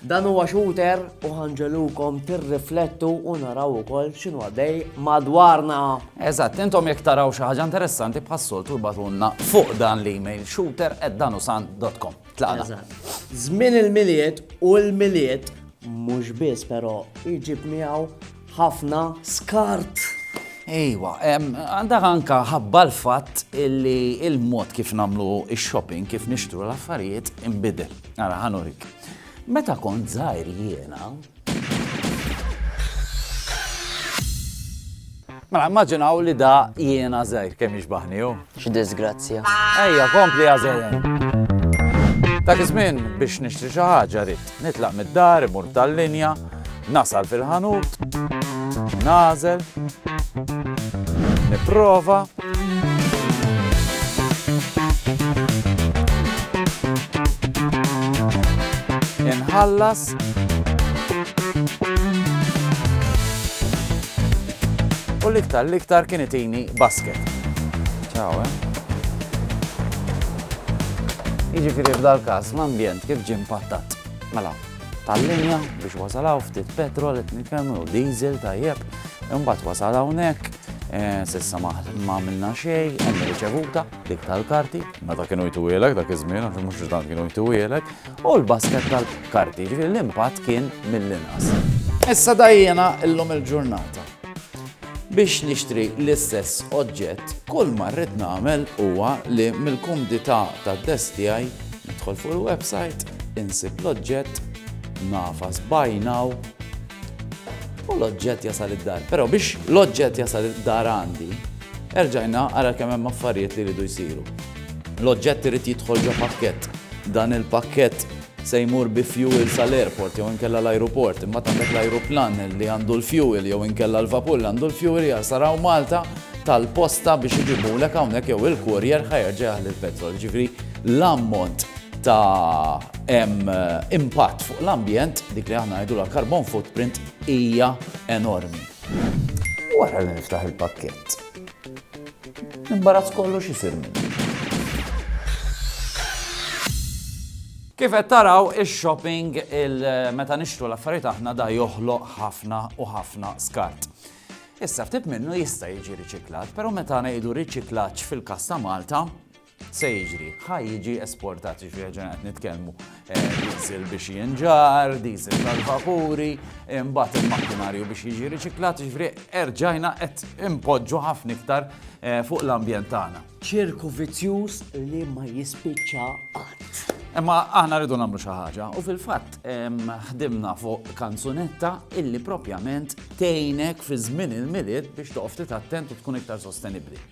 Dan huwa shooter u ħanġelukom tirriflettu u naraw ukoll x'inhu għaddej madwarna. Eżatt, intom jekk taraw xi ħaġa interessanti bħas-soltu batunna fuq dan l-email shooter@danusan.com. Tlaqna. Żmien il-miliet u l-miliet mhux biss però iġib miegħu ħafna skart. Ejwa, għandha anka ħabba l-fatt illi il-mod kif nagħmlu x-shopping, kif nixtru l-affarijiet inbidel. Ara ħanurik. Meta kont żgħir jiena, Mela, immaġinaw li da jiena zaħir kemm jixbaħni, X'diżgrazzja. Ejja, kompli għażejjen. Dak iż-żmien biex nixtri xi ħaġa rid nitlaq mid-dar, imur tal-linja, nasal fil-ħanut, nażel, nipprova, inħallas, U l-iktar l-iktar kien itini basket. Ciao, eh? Jiġifieri f'dal-każ l-ambjent kif ġie mpattat? Mela, tal-linja biex wasal hawn ftit petrol qed nitkellmu jew diesel tajjeb, imbagħad wasal hawnhekk eh, sissa ma għamilna xejn, hemm riċevuta dik tal-karti. Meta kienu jtuwielek dak iż-żmien, għax mhux tant kienu jtuwielek, u l-basket tal-karti, jiġifieri l-impatt kien mill-inqas. Issa dajjena illum il-ġurnata. Biex nixtri l-istess oġġett, kull ma rrid nagħmel huwa li mill-kumdità tad-desk tiegħi nidħol fuq il-website, insib l-oġġett, nagħfas buy now, u l-oġġett jasal id-dar. Però biex l-oġġett jasal id-dar għandi, erġajna għara kemm hemm affarijiet li jridu jsiru. L-oġġett irid jidħol ġo pakkett. Dan il-pakkett se jmur bi fjuwil sal-airport jew inkella l-ajruport. Imbagħad għandek l-ajruplan li għandu l-fjuwil jew inkella l-vapur li għandu l-fjuwil jasal hawn Malta tal-posta biex iġibulek hawnhekk jew il-courier ħa jerġa' jaħli l-petrol. Ġifieri l-ammont ta' impatt fuq l-ambjent, dik li aħna ngħidulha carbon footprint, hija enormi. Wara li niftaħ il-pakkett, L-imbarazz kollu x'isir minni. Kif qed taraw ix-shopping meta nixtru l-affarijiet aħna da joħloq ħafna u ħafna skart. Issa ftit minnu jista' jiġi riċiklat, però meta ngħidu riċiklaġġ fil-kas ta' Malta, Se jiġri, ħa jiġi esportat, jiġri ġen qed nitkellmu eh, diesel biex jinġar, diesel tal-vapuri, imbagħad il-makkinarju biex jiġi riċiklat, jiġri erġajna qed impoġġu ħafna iktar eh, fuq l-ambjent tagħna. Ċirku vizzjuż li ma jispiċċa qatt. Imma aħna rridu nagħmlu xi ħaġa u fil-fatt ħdimna fuq kanzunetta illi propjament tgħinek fi żmien il-milied biex toqgħod titattent u tkun iktar sostenibbli.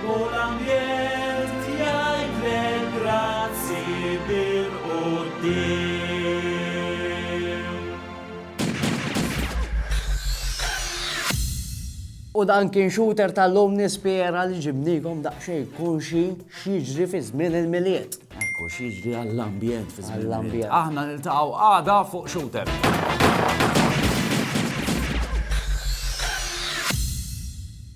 U l-ambjent jgħidlek grazzi bil-quddiem. U dan kien shooter tal-lum nispera li ġibnikom daqsxejn konxi x'jiġri fi żmien il-Milied. Ekku x'jiġri għall-ambjent fi żmien il-Milied. Aħna niltaqgħu għada fuq Shooter.